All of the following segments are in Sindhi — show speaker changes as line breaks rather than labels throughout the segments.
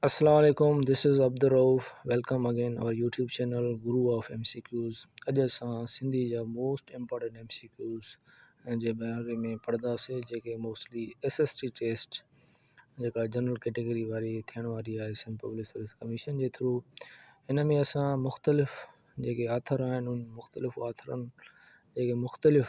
السلام عليڪم this is Abdul Rauf welcome again our YouTube channel Guru of M C Qs اڄ اسان سنڌي جا most important M C Qs جي باري ۾ پڙهنداسي جيڪي mostly S S T test جيڪا جنرل ڪيٽيگري واري ٿيڻ واري آهي سنڌ پبلڪ سروس ڪميشن جي ٿرو ان ۾ اسان مختلف جيڪي آٿر آهن ان مختلف آٿرن جيڪي مختلف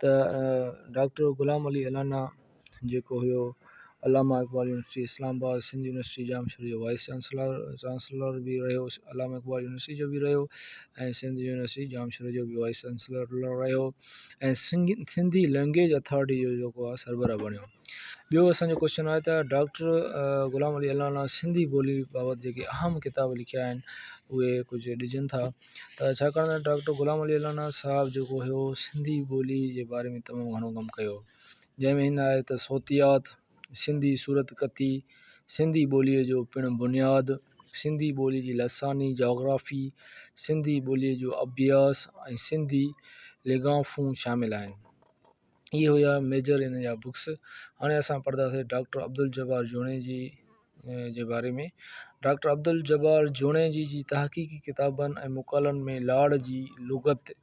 ته ڊاڪٽر غلام علي الانا جيڪو هيو Allama Iqbal university Islamabad, Sindh university Jamshoro جو وائيس چانسلر به رهيو، علامه اقبال يونيورسٽي جو به رهيو ۽ سنڌ يونيورسٽي ڄام شوري جو به وائيس چانسلر رهيو ۽ سنڌي لئنگئيج اٿارٽي جو جيڪو آهي سربراهه بڻيو. ٻيو اسان جو ڪوشچن آهي ته ڊاڪٽر غلام علي الانا سنڌي ٻولي بابت جيڪي اهم ڪتاب لکيا آهن اهي ڪجهه ڏجن ٿا. ته ڇاڪاڻ ته ڊاڪٽر غلام علي الانا صاحب جيڪو هيو سنڌي ٻولي جي باري ۾ تمام گهڻو ڪم ڪيو جنهن ۾ هن آهي ته صوتيات سنڌي صورت ڪٿي سنڌي ٻوليء جو پڻ بنياد سنڌي ٻولي جي لساني جاگرافي سنڌي ٻوليء جو اڀياس ۽ سنڌي ليگافون شامل آهن اهي هيا ميجر هن جا بڪس هاڻي اسان پڙهنداسي ڊاڪٽر عبدالجبار جوڻيجي جي باري ۾ ڊاڪٽر عبدالجبار جوڻيجي جي تحقيقي ڪتابن ۽ مقالن ۾ لاڙ جي لغت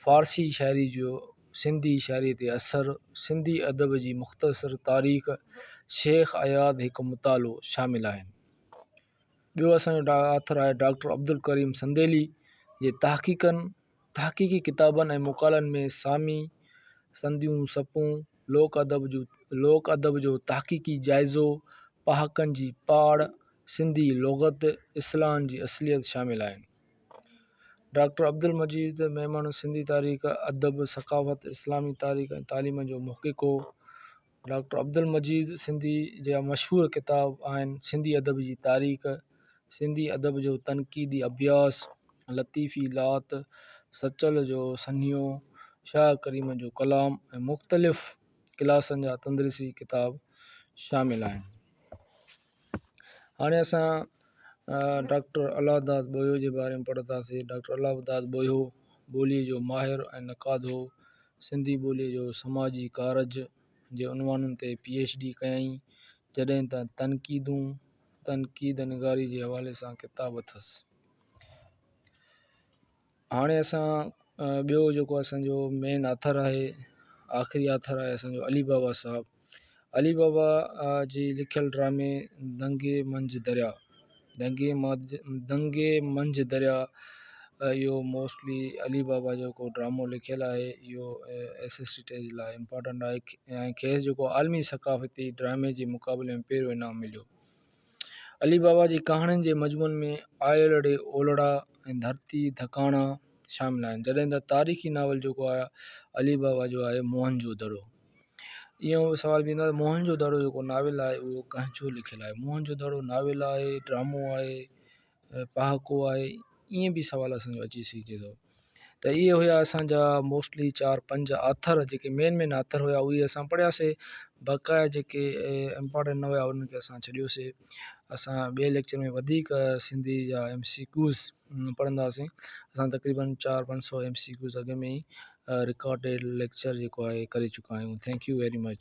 فارسي شاعري جو سنڌي شاعري تي اثر سنڌي ادب جي مختصر تاريخ شيخ اياز هڪ مطالعو شامل آهن ٻيو اسان جو آٿر آهي ڊاڪٽر عبدالڪريم سنديلي جي تحقيقن تحقيقي ڪتابن ۽ مقالن ۾ سامي، سنديون سپون، لوڪ ادب جو تحقيقي جائزو، پهاڪن جي پاڙ، سنڌي لغت، اصلاحن جي اصليت شامل آهن. ڊاڪٽر عبدالمجيد ميمڻ سنڌي تاريخ، ادب، ثقافت، اسلامي تاريخ ۽ تعليم جو محقق هو. ڊاڪٽر عبدالمجيد سنڌيء جا مشهور ڪتاب آهن سنڌي ادب جي تاريخ سنڌي ادب جو تنقيدي اڀياس لطيفي لات سچل جو سنهيو شاهه ڪريم جو ڪلام ۽ مختلف ڪلاسن جا تندرسي ڪتاب شامل آهن هاڻي اسان ڊاڪٽر الله داد ٻوهيو جي باري ۾ پڙهنداسين ڊاڪٽر الله داد ٻوهيو ٻوليء جو ماهر ۽ نقاد هو سنڌي ٻوليء جو سماجي ڪارج جي عنوانن تي پي ايڇ ڊي ڪيائين جڏهن ته تنقيدون تنقيد نگاري جي حوالي سان ڪتاب اٿس هاڻي اسان ٻيو جيڪو اسانجو مين آٿر آهي آخري آٿر آهي اسانجو علي بابا صاحب علي بابا جي لکيل ڊرامي دنگي منجهه دريا دنگي ماج دنگي منجهه دريا اهو موسٽلي علي بابا جيڪو ڊرامو لکيل آهي اهو ايس ايس ٽي ٽي جي لاء امپارٽنٽ آهي ۽ کيس جيڪو عالمي ثقافتي ڊرامي جي مقابلي ۾ پهريون انعام مليو علي بابا جي ڪهاڻين جي مجموعن ۾ آيل ڙي اولڙا ۽ ڌرتي ڌڪاڻا شامل آهن جڏهن ته تاريخي ناول جيڪو آهي علي بابا جو آهي موهن جو دڙو اهو سوال به ايندو موهن جو دڙو جيڪو ناول آهي اهو ڪنهن جو لکيل آهي موهن جو دڙو ناول آهي ڊرامو آهي پهاڪو آهي ائين به سوال اسان جو اچي سگهجي ٿو ته اهي هيا اسان جا موسٽلي چار پنج آٿر جيڪي مين مين آٿر هيا اهي اسان پڙهياسي بقايا جيڪي امپارٽنٽ نه هيا انهن کي اسان ڇڏيوسي اسان ٻئي ليڪچر ۾ وڌيڪ سنڌي جا ايم سي ڪيوز پڙهنداسين اسان تقريبن چار پنج سو ايم سي ڪيوز اڳ ۾ ئي رڪارڊيڊ ليڪچر جيڪو آهي ڪري چڪا آهيون ٿينڪ يو ويري مچ